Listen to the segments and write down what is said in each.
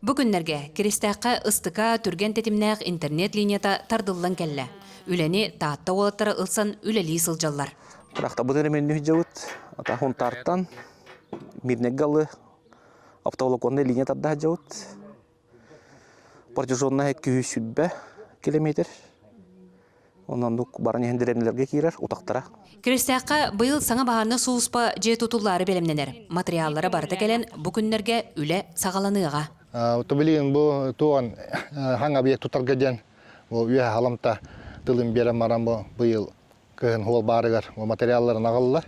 Бу күннэргэ Киристээххэ ыстыка, түргэн тэтимнээх интернет линията тардыллан кэллэ. Үлэни Таатта уолаттара ылсан үлэлии сылдьаллар. Тырахтарбыт эрэ мэнню сылдьабыт. Ата Хунтаартан Мирнэгэ алы автоволоконная линия тарда сылдьабыт. Протяженная 200 километр. Оннук баран иһэн дэриэбинэлэргэ киирэр утахтара. Күрэстээххэ быйыл саҥа баһаарынай сулууспа дьиэ тутуллаары бэлэмнэнэр. Матырыйааллара барыта кэлэн бу күннэргэ үлэ саҕаланыаҕа. Отто билигин бу туон хаҥ объект тутарга диэн үөһэ халамта тылын биэрэн баран быйыл кыһын хуол баарыгар материалларын аҕаллар.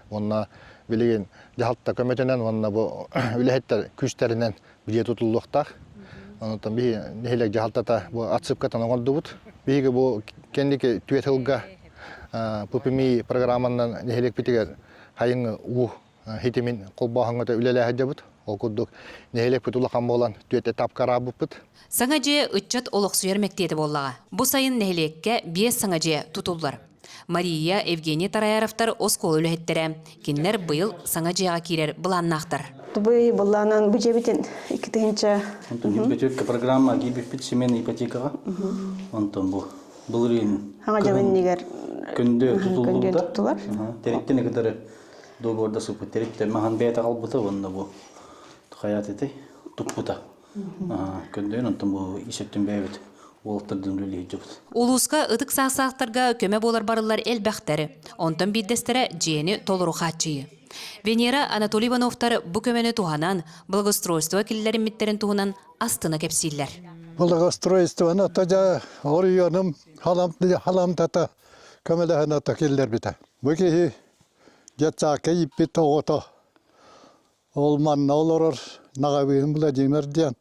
Уонна билигин дьаһалта көмөтүнэн уонна бу үлэһиттэр күүстэринэн дьиэ тутуллуохтаах. Онуттан биһи нэһилиэк дьаһалтата бу отсыпкатан оҥордубут. Биһиги бу кэнники түөрт сылга ППМИ программанан нэһилиэкпитигэр хайыҥы уу хитимин холбооһуҥҥа үлэлэһэ сылдьабыт. Ол курдук нэһилиэкпит улахан буолан түөрт этапка араабыппыт. Саҥа дьиэ ыччат олохсуйар мэктиэтэ буоллаҕа. Бу сайын нэһилиэккэ биэс саҥа дьиэ тутуллар. Мария, Евгений Тараяровтар оскуола үлэһиттэрэ. Кинилэр быйыл саҥа дьиэҕэ киирэр былааннаахтар. Тугуй былаанан бу дьэбитин иккитинчэ Бүтүргэтүөккэ программа киирбиппит семейная ипотекаҕа. Онтон бу был үрүөнүн Хаҥа дьабыннигар күндү тутуллубута. туттулар. Териттен ыкытары договорда сыппыт териттен махан бэйэтэ қалбыта уонна бу хайаат этэй туппута. Көрдөйөн онтон бу исеттин бэйэбит уолтардын үлэлиирдибит. Улууска ытык саастаахтарга көмө буолар барыллар элбэхтэр. Онтон биирдэстэрэ дьиэни толору хааччыйыы. Венера Анатолий Ивановтар бу көмөнү туһанан, благоустройство киллэриммиттэрин туһунан астына кэпсииллэр. Благоустройствоны тажа орйоным халамтата көмөлөһөн ата киллэрбитэ. Бу киһи детсаакка иппит оҕото Ол манна олорор Наговин Владимир диэн.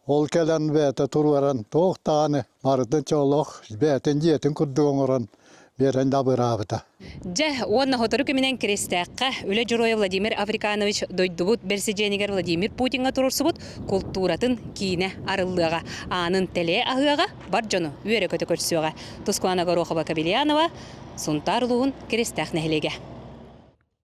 Ол кэлэн бэйэтэ туруоран туох даҕаны барытын чоолоох бэйэтин дьиэтин курдук оҥорон биэрэн дабыраабыта. Дьэ, уонна сотору күмүнэн Киристээххэ Үлэ Дьоруойа Владимир Африканович дойдубут бэрэсидьиэнигэр Владимир Путиҥҥа туруорсубут култууратын киинэ арыллыаҕа, аанын тэлэйэ аһыаҕа, бар дьону үөрэ-көтө көрсүөҕэ. Тускуана Горохова-Кобельянова, Сунтаар улууһун Киристээх нэһилиэгэ.